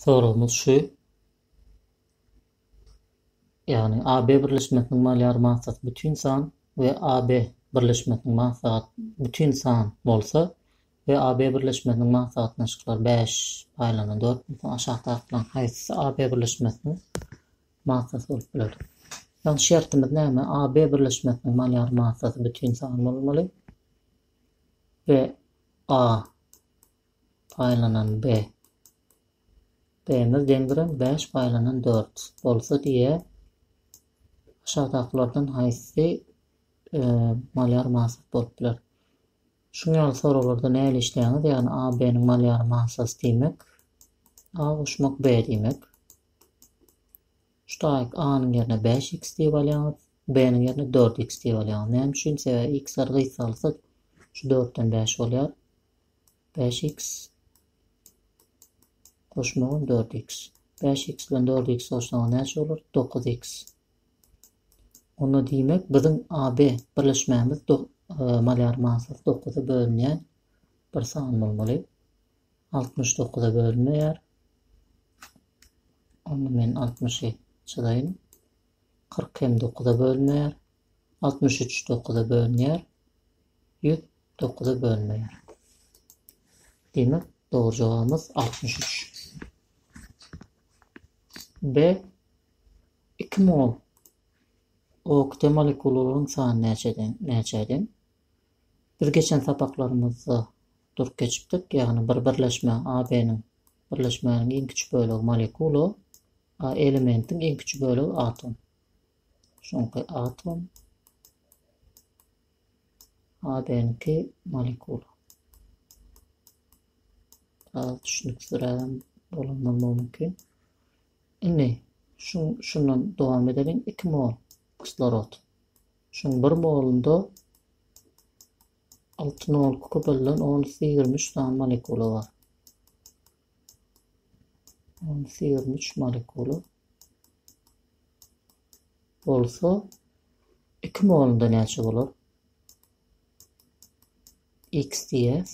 Soragymyz şu, ýagny AB birleşmesiniň malyar massasy bütin san we AB birleşmesiniň masagat bütin san bolsa we AB birleşmesiniň masagatnaşyklary bäş paýlana dört bolsa aşakdakylaryň haýsysy AB birleşmesiniň massasy bolup biler? Ýagny şertimiz näme? AB birleşmesiniň malyar massasy bütin san bolmaly we A paýlanan B. B-miz deňdire bäş paýlanan dört bolsa diýe, aşakdakylardan haýsy malýar masat bolup biler? Şuň ýaly soraglarda näli işleýäňiz, ýagny A, B-niň malýary masasy diýmek, A goşmak B diýmek. Şu taýyk A-nyň ýerine bäş X diýip alýaňyz, B-niň ýerine dört X diýip alýaňyz. Näme üçin? Sebäbi X-ler gysgalsa şu dörtden bäş bolýar. Bäş X goşmagam dört X. Bäş X bilen dört X goşsaňyz näçe bolar? Dokuz X. Onda diýmek biziň AB birleşmämiz e, malýar manysy dokuza bölünýän bir san bolmaly. Altmyş dokuza bölünmeýär. Onda men altmyşy çyzaýyn. Kyrk hem dokuza bölünmeýär. Altmyş üç dokuza bölünýär. Ýüz dokuza bölünmeýär. Demek, dogry jogabymyz altmyş üç. B. Iki mol okte molekulalaryň sany näçeden näçe deň? Biz geçen sapaklarymyzda Durup geçipdik, ýagny bir birleşmä AB-nyň birleşmäniň iň kiçi bölegi molekula, a elementiň iň kiçi bölegi atom. Şoňky atom AB-niňki molekula. Biraz düşünüksizrägem bolandan mümkin. Indi şu şundan dowam edelim. 2 mol kislorod. Şuň 1 molunda Altyn ol kükürdilden on üsti ýigrimi üç sany molekula bar. On üsti ýigrimi üç molekula. Bolsa, iki molunda näçe bolar? X diýäs.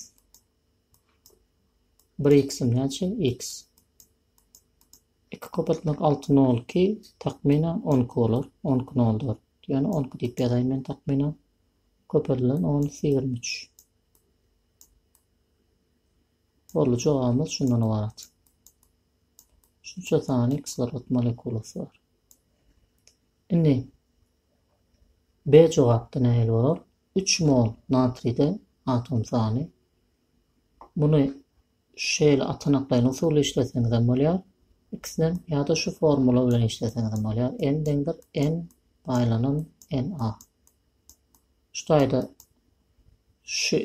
Bir x-im näçe? X. Iki köpeltmek altı nol ki, takminen on iki bolar. On iki nol dört. Yani on iki diýip ýazaýyn men takminen. Köpeldilen on iki ýigrimi üç. Boldy jogabymyz şundan ybarat. Şunça sany kislorod molekulasy bar. Indi B jogapda nähili bolar? Üç mol natride atom sany. Muny Şeýle atanaklaýyn usuly işleseňizem bolýar, ikisinem ýa-da şu formula bilen işleseňizem bolýar, n deňdir n baýlanan n-a. Şu taýda şu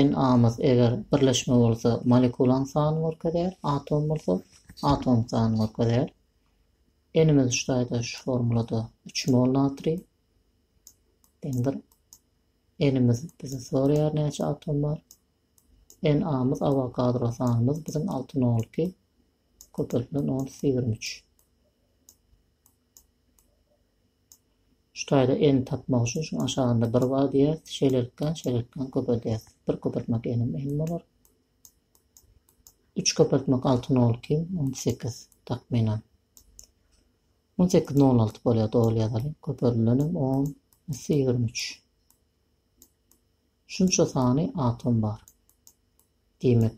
n-amyz eger birleşme bolsa molekulaň sanyny görkezýär, atom bolsa atomyň sanyny görkezýär. N-imiz şu taýda şu formulada 3 mol natriý deňdir N-imiz bizi soraýar näçe atom bar. NA-myz awokadro sanymyz biziň alty nol iki, köpeltmeden on iki ýigrimi üç. Şu taýda N tapmak üçin şuň aşagynda bir bar diýýäs, şeýlelikden, şeýlelikden köpeldýäs. Bir köpeltmek N-im N bolar. Üç köpeltmek alty nol iki, on sekiz takmynan. On sekiz nol alty bolýar, dogry ýazalyň. Köpeldilenim on iki ýigrimi üç. Şunça sany atom bar. Diýmek,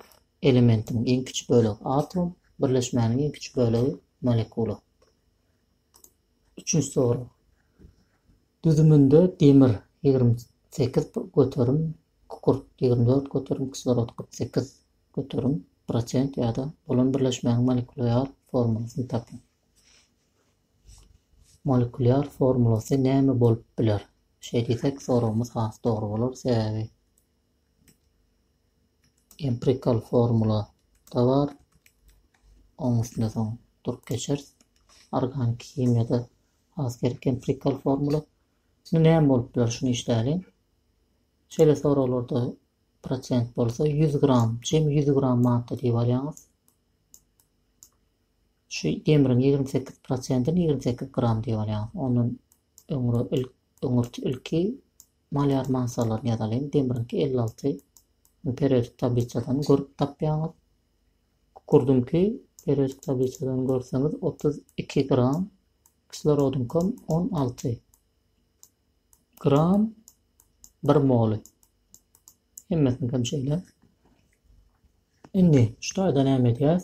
elementiň iň kiçi bölegi atom, birleşmäniň iň kiçi bölegi molekula. Üçünji sorag. Düzüminde demir ýigrimi sekiz göterim, kükürt ýigrimi dört göterim, kislorod kyrk sekiz göterim prosent ýa-da bolan birleşmäniň molekulyar formulasyny tapyň. Molekulýar formulasy näme bolup biler? Şeý diýsek, soragymyz has dogry bolar, sebäbi empirikal formula-da bar, onuň üstünde soň durup geçeris. Organiki himiýada has gerek empirikal formula. Şimdi näme bolup biler, şuny işläliň. Şeýle soraglarda prosent bolsa 100 gram, jemi 100 gram madda diýip alýaňyz. Şu demriň ýigrimi sekiz prosentini ýigrimi sekiz gram diýip alýarys. Ondan öňre il öňürti ilki malýar massalaryny ýazalyň. Demriňki elli alty. Muny periodik tablisadan görüp tapýaňyz. Kukurdymky periodik tablisadan görseňiz otuz iki gram. Kislorodyňkam on alty gram bir moly. Hemmesini hem şeýle. Indi şu taýda näme edýäs?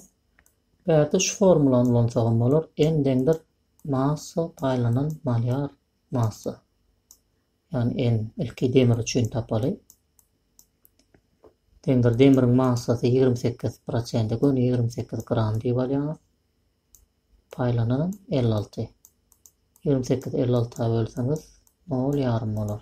Bärde şu formulany ulansak hem bolar. N deňdir massa paýlanan malýar massa. Ýagny N ilki demir üçin tapaly. Deňdir demiriň massasy 28 prosent, göni 28 gram diýip alýar. Paýlanan 56. 28 56 bölseňiz 0 ýarym bolar.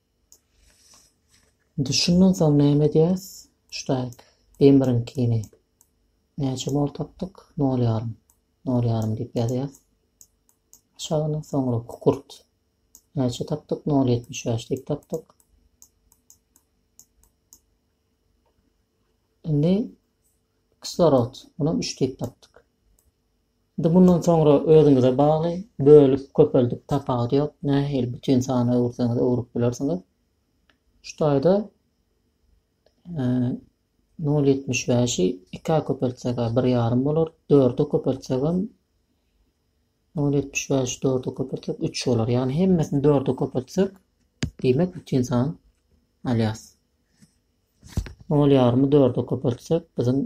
Indi şundan soň näme edýäs? Ştaýk, demiriňkini näçe mol tapdyk? Nol ýarym. Nol ýarym diýip ýazýas. Aşagyna soňra kukurt. Näçe tapdyk? Nol ýetmiş bäş diýip tapdyk. Indi kislorod. Muny üç diýip tapdyk. Indi mundan soňra özüňize bagly, bölüp, köpeldip tapawudy ýok, nähili bütin sana öwürseňiz öwrüp bilersiňiz. Şu taýda nol ýetmiş bäşi ikä köpeltsek bir ýarym bolar, dörde köpeltsek hem nol ýetmiş bäşi dörde köpeltsek üç bolar. Ýagny hemmesini dörde köpeltsek diýmek bütin san alýas. Nol ýarymy dörde köpeltsek biziň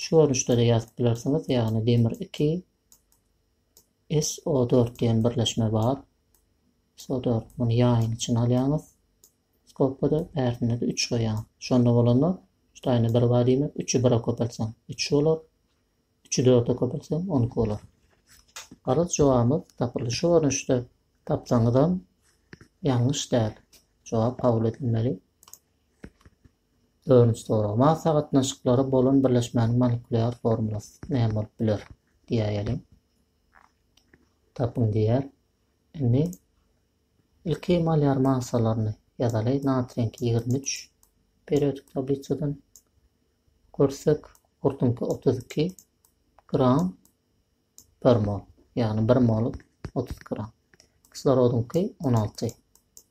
Şu görnüşde-de ýazyp bilersiňiz, ýagny demir iki, SO dört diýen birleşme bar. SO dört, muny ýaýyň içine alýaňyz. Skopkada bärsinde-de üç goýýaň. Şonda bolanda, şu taýyna bir bar diýmek, üçi bire köpeltseň, üç bolar. Üçi dörde köpeltseň, on iki bolar. Garaz, jogabymyz tapyldy. Şu görnüşde tapsaňyzam ýalňyş däl. Jogap kabul edilmeli. Öwrünç soragma sagatnaşyklary bolan birleşmäniň molekulýar formulasy näme bolup biler? diýäýeliň. Tapyň diýýär. Indi ilki molýar massalaryny ýazaly. Natriýiňki ýigrimi üç periodik tablisadan görsek, gurtuňky otuz iki gram bir mol, ýagny bir mol otuz gram. Kislorodyňky on alty.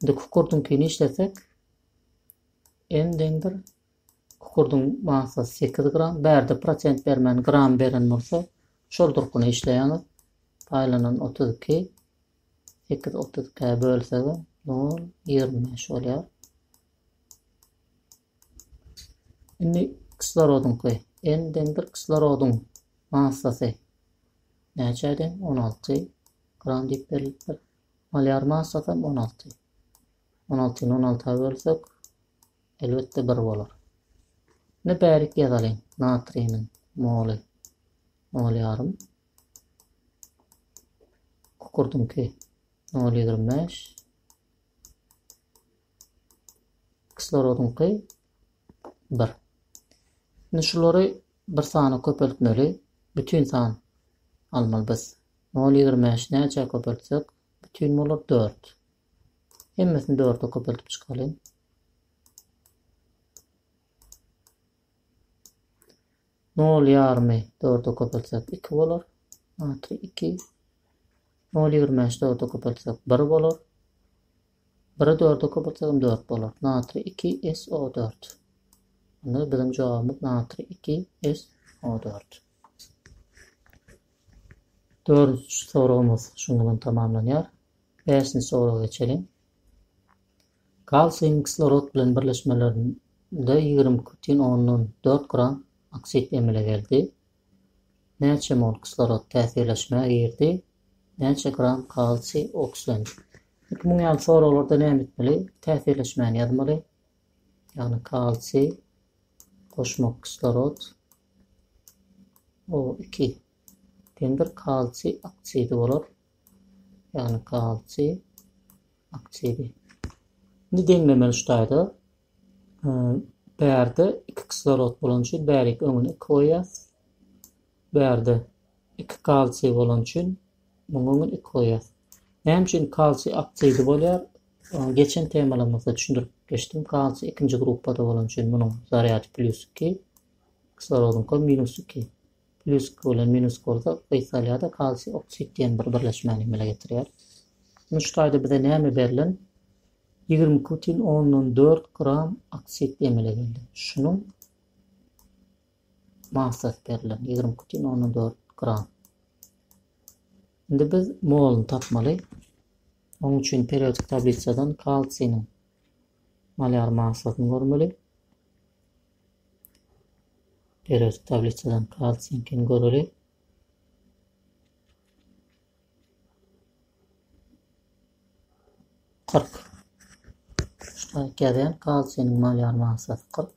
Indi kukurdyňkyny işlesek, m deňdir kukurdyň massasy sekiz gram, bärde prosent bermän gram beren bolsa, şol durkuna işleýäňiz. Paýlanan otuz iki, sekiz otuz ikä bölsegem nol, ýigrimi bäş bolýar. Indi kislorodyňky, n deňdir kislorodyň massasy näçe deň, on alty gram diýip berilipdir. Malýar massasam on alty. On altyny on alta bölsek, elbetde bir bolar. Indi bärik ýazalyň. Natriýniň moly nol ýarym. Kukurdyňky nol ýigrimi bäş. Kislorodyňky bir. Indi şulary bir sana köpeltmeli. Bütin san almaly biz. Nol ýigrimi bäşi näçä köpeltsek, bütin bolar? Dört. Hemmesini dörde köpeltip çykalyň. Nol ýarymy dörde köpeltsek, iki bolar. Atry iki. Nol ýigrimi bäşi dörde köpeltsek, bir bolar. Biri dörde köpeltsek hem dört bolar. Natri iki SO dört. Onda biziň jogabymyz natri iki SO dört. Dördünji soragymyz şunuň bilen tamamlanýar. Bäşinji soraga geçeliň. Kalsiýum kislorod bilen birleşmelerinde ýigrimi iki bütin ondan dört gram oksid emele geldi. Näçe mol kislorod täsirleşmä girdi? Näçe gram kalsiý okslendi? Indi muň ýaly soraglarda näme etmeli? Täsirleşmäni ýazmaly. Ýagny kalsiý goşmak kislorod O2 demir kalsiý oksidi bolar. Ýagny kalsiý oksidi. Indi demlemeli ştaýda bärde iki kislorod bolan üçin bärik öňüne iki goýýas. Bärde iki kalsiý bolany üçin muňa öňden iki goýýas. Näme üçin kalsiý oksidi bolýar? Ony geçen temalarymyzda düşündirip geçdim. Kalsiý ikinji gruppada bolany üçin munuň zarýady plýus iki, kislorodyňka minus iki. Plýus iki bilen minus iki bolsa gysga alýar-da kalsiý oksid diýen bir birleşmäni emele getirýär. Indi şu taýda bize näme berlen? Ýigrimi iki bütin ondan dört gram oksid emele geldi. Şunuň Massasy berlen, ýigrimi iki putin ondan dört gram. Indi biz moluny tapmaly. Onuň üçin periodik tablisadan kalsiniň molýar massasyny görmeli. Periodik tablisadan kalsiniňkini göreli. Kyrk. Şular gelen kalsiniň molýar massasy kyrk.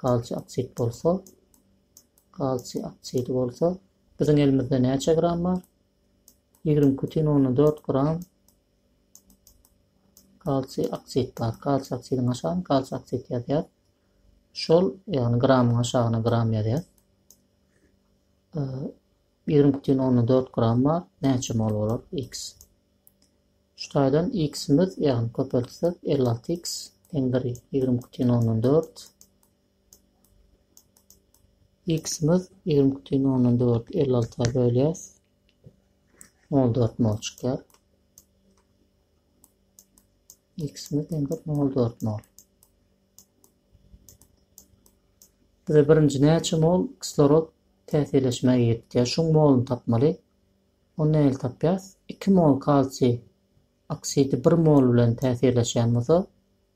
Kalsiý oksid bolsa, kalsiý oksidi bolsa, biziň elimizde näçe gram bar? Ýigrimi iki bütin ondan dört gram kalsiý oksid bar. Kalsiý oksidiň aşagyny kalsiý oksid ýazýar. Şol, ýagny gramyň aşagyna gram ýazýar. Ýigrimi iki bütin ondan dört gram bar. Näçe mol bolar? X. Şu taýdan x-imiz, ýagny köpeltsek, elli alty x deňdir ýigrimi iki tüýn ondan dört. X-imiz ýigrimi iki tüýn ondan dördi elli alta bölýäs. Nol dört mol çykýar. X-imiz deňdir nol dört mol. Bize birinji näçe mol kislorod täsirleşmä giripdi. Şuň moluny tapmaly. Ony nähili tapýas? Iki mol kalsiý oksidi bir mol bilen täsirleşýän bolsa,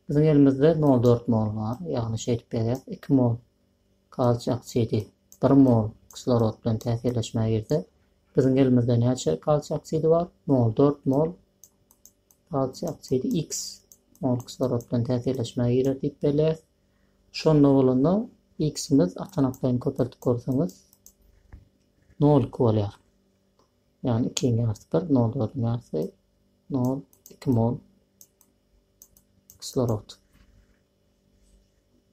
biziň elimizde nol dört mol bar. Ýagny şeýdip ýazýas, iki mol kalsiý oksidi bir mol kislorod bilen täsirleşmä girse, biziň elimizde näçe kalsiý oksidi bar? Nol dört mol kalsiý oksidi x mol kislorod bilen täsirleşmä girer diýip belleýäs. Şonda bolanda x-imiz atanaklayny köpeltip görseňiz, Nol iki bolýar. Ýagny ikiň ýarysy bir, nol dördüň ýarysy nol, iki mol kislorod.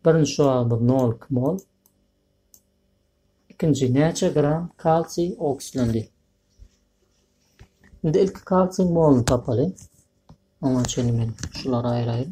Birinji şuwagymyz nol iki mol. Ikinji näçe gram kalsiý oksidlendi? Indi ilki kalsiýň moluny tapaly. Oňa çenli men şulary aýraýyn.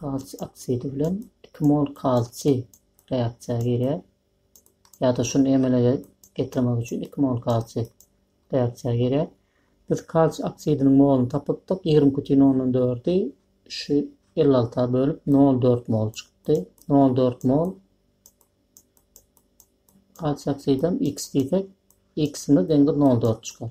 Kalsiý oksidi bilen iki mol kalsiý reaksiýa girýär. Ýa-da şuny emele getirmek üçin iki mol kalsiý reaksiýa girýär. Biz kalsiý oksidiniň moluny tapypdyk. 20,4-i şu 56-a bölüp 0,4 mol çykdy. 0,4 mol kalsiý oksidem x diýsek, x-imiz deňdir 0,4 çykar.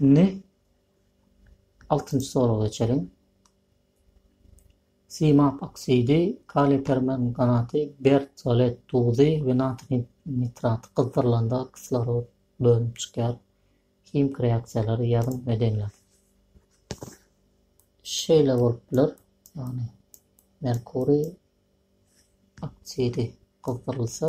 Indi altynjy sorag geçelim. Simap oksidi, kaliý permanganaty, bertsolet duzy we natr nitraty gyzdyrylanda kislorod bölünip çykýar. Himik reaksiýalary ýazyň we deňläň. Şeýle bolup biler. Ýagny merkuriý oksidi gyzdyrylsa,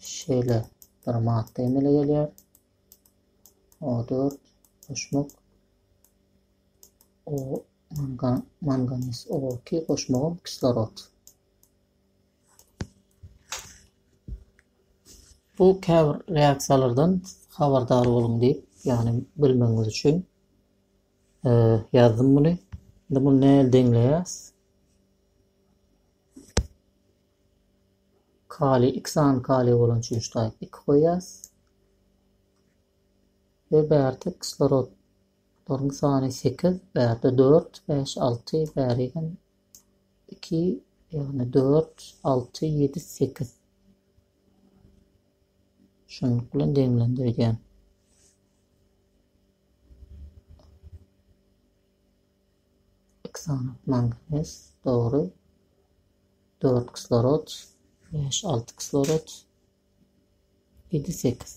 Şeýle bir madda emele gelýär. O4 goşmak o mangan manganiz O2 goşmagam kislorod. Bu käbir reaksiýalardan habardar boluň diýip, ýagny bilmegiňiz üçin e, ýazdym muny. Indi muny näle deňleýäs? Kaliý, iki sany kaliý bolan çüýşdäki iki goýýas. We bärde kislorodlaryň sany sekiz, bärde dört, bäş, alty, bäri hem iki, ýagny dört, alty, ýedi, sekiz. Şunluk bilen deňlendirýän. Oksanat manganes, dogry, dört kislorod, bäş, alty kislorod, ýedi, sekiz.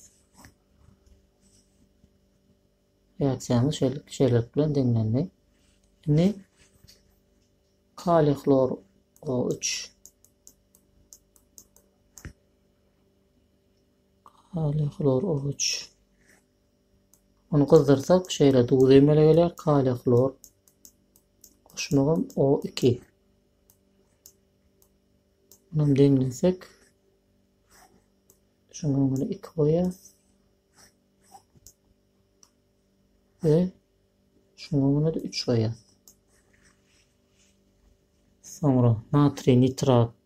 Reaksiýamyz şeýle şeýlelik bilen deňlendi. Indi kaliý hlor o üç kaliý hlor o üç Ony gyzdyrsak şeýle duz emele gelýär, kaliý hlor goşmagam O iki. Munam deňlesek. Şuň öňüne iki goýýas. Ve şuň öňüne-de üç goýýas. Soňra natriý nitrat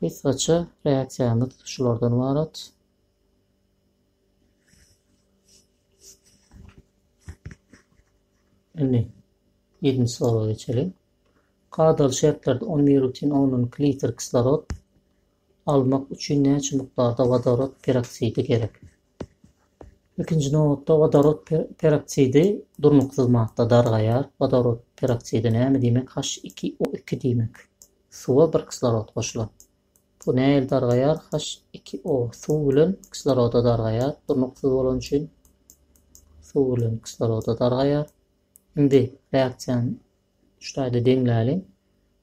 Gysgaça reaksiýamyz şulardan ybarat. Indi 7-nji sorag geçelim. Kadaly şertlerde 10 mirutin 10 litr kislorod almak üçin näçe mukdarda wodorod peroksidi gerek? Ilkinji nobatda wodorod peroksidi durnuksyz madda, dargaýar. Wodorod peroksidi näme diýmek? H2O2 diýmek. Suwa bir kislorod goşulan. Bu nähili dargaýar? H2O suw bilen kisloroda dargaýar. Durnuksyz bolany üçin suw bilen kisloroda dargaýar. Indi reaksiýany şu taýda deňläliň.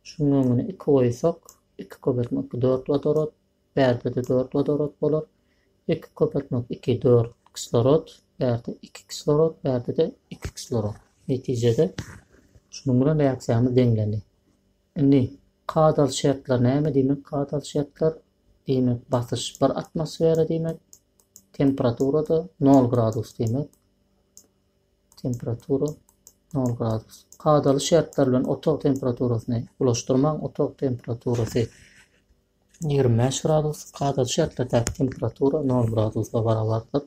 Şunuň öňüne 2 goýsak, 2 köpeltme 2 4 wodorod, Bärde-de dört wodorod bolar. Iki köpeltmek iki, dört kislorod, bärde iki kislorod, bärde-de iki kislorod. Netijede, şunuň bilen reaksiýamyz deňlendi. Indi kadaly şertler näme? Diýmek, kadaly şertler, diýmek, basyş bir atmosfera diýmek, temperatura-da nol gradus diýmek. Temperatura nol gradus. Kadaly şertler bilen otag temperaturasyny bulaşdyrmaň, otag temperaturasy Ýigrimi bäş gradus, adaty şertlerdäki temperatura nol gradusa barabardyr.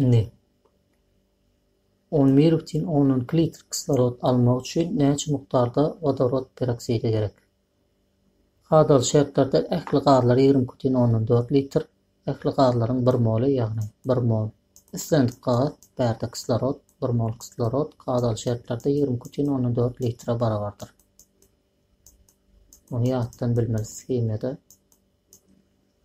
Indi on bir bütin ondan iki litr kislorod almak üçin näçe mukdarda wodorod peroksidi gerek? Hadal şertlerde ähli gazlar ýigrimi iki bütin ondan dört litr, ähli gazlaryň bir moly, ýagny bir mol islendik gaz, bärde kislorod, bir mol kislorod hadal şertlerde ýigrimi iki bütin ondan dört litre barabardyr. Muny ýatdan bilmeris himiýada.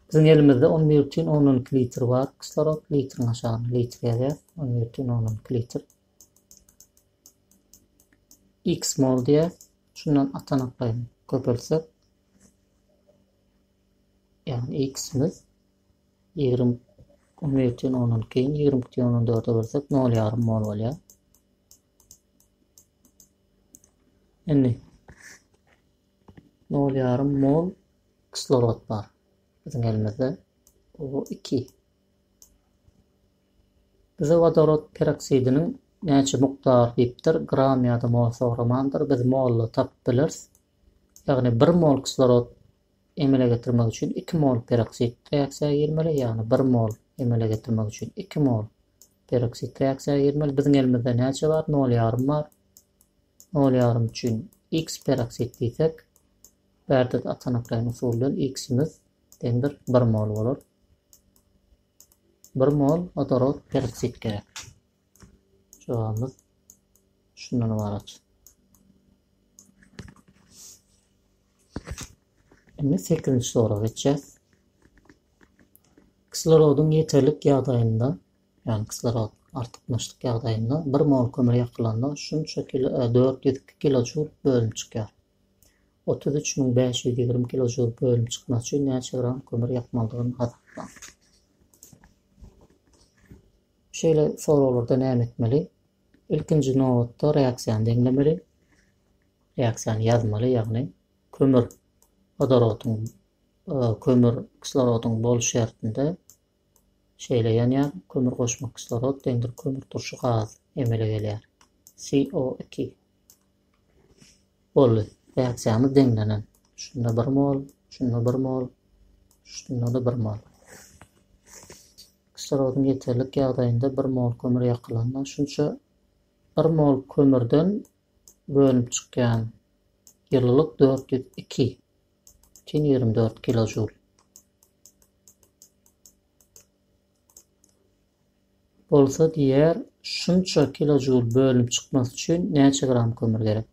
Biziň elimizde on bir bütin ondan iki litr bar kislorod, litriň aşagyny litr ýazýar, on bir bütin ondan iki litr. X mol diýär, şundan atanaklaýyn köpeltsek, ýagny x-imiz ýigrimi on bir bütin ondan iki, ýigrimi iki bütin ondan dörde bölsek, nol ýarym mol bolýar. Indi nol ýarym mol kislorod bar. Biziň elimizde O2. Bize wodorod peroksidiniň näçe mukdar diýipdir, gram ýa-da mol soramandyr. Biz molda tapyp bileris. Ýagny 1 mol kislorod emele getirmek üçin 2 mol peroksid reaksiýa girmeli, ýagny 1 mol emele getirmek üçin 2 mol Peroksid reaksiýa girmeli. Biziň elimizde näçe bar? Nol ýarym bar. Nol ýarym üçin X peroksid diýsek, Berdit atanaklaýyn usuly bilen X-imiz deňdir bir mol bolar. Bir mol odorod peroksid gerek. Jogabymyz şundan ybarat. Indi sekizinji sora geçýäs. Kislorodyň ýeterlik ýagdaýynda, ýagny kislorod artykmaçlyk ýagdaýynda bir mol kömür ýakylanda şunça kilo, e, dört ýüz iki kilojoul bölünip çykýar. Otuz üç müň bäş ýüz ýigrimi kilojoul bölünip çykmak üçin näçe gram kömür ýakmalydygyny hasaplaň. Şeýle soraglarda näme etmeli? Ilkinji nobatda reaksiýany deňlemeli. Reaksiýany ýazmaly, ýagny kömür wodorodyň kömür kislorodyň boluş şertinde şeýle ýanýar, kömür goşmak kislorod deňdir kömür turşy gaz emele gelýär. CO iki. Boldy. Reaksiýamyz deňlenen. Şunda bir mol, şunda bir mol, şunda-da bir mol. Kislorodyň ýeterlik ýagdaýynda bir mol kömür ýakylanda şunça bir mol kömürden bölünip çykýan ýylylyk dört ýüz iki butyn ýigrimi dört kiložul bolsa diýer, şunça kiložul bölünip çykmasy üçin näçe gram kömür gerek?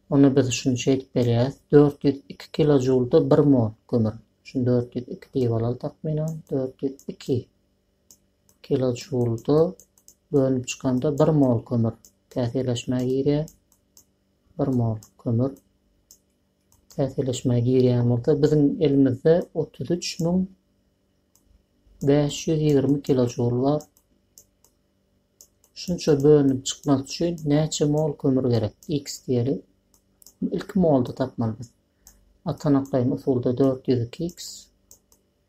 Onda biz şuny şeýdip berýäs, dört ýüz iki kiložulda bir mol kömür. Şuny dört ýüz iki diýip alaly takmynan, dört ýüz iki Kilojoulda bölünip çykanda bir mol kömür täsirleşmä girýär. Bir mol kömür täsirleşmä girýän bolsa biziň elimizde otuz üç müň bäş ýüz ýigrimi kilojoul bar. Şunça bölünip çykmak üçin näçe mol kömür gerek? X diýeli. Ilki molda tapmaly biz. Atanaklaýyn usulda dört ýüz iki x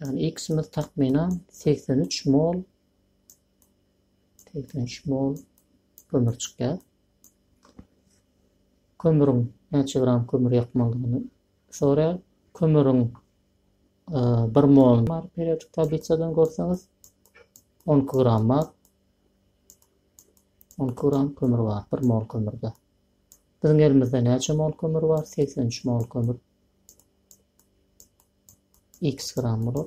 Ýagny X-imiz takmynan segsen üç mol segsen üç mol kömür çykýar. Kömüriň näçe gram kömür ýakmalydygyny soraýar. Kömüriň e, bir mol bar periodik tablisadan görseňiz 12 iki gram bar. 12 iki gram kömür bar bir mol kömürde. Biziň elimizde näçe mol kömür bar? Segsen üç mol kömür x gram bolar.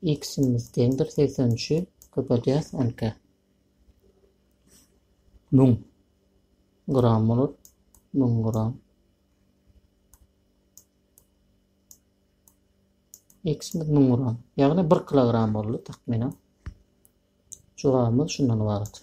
X-imiz deňdir segsen üçi köpeldýäs on iki. Müň gram bolar. Müň gram. X-imiz müň gram. Ýagny bir kilogram boldy takmynan. Jogabymyz şundan ybarat.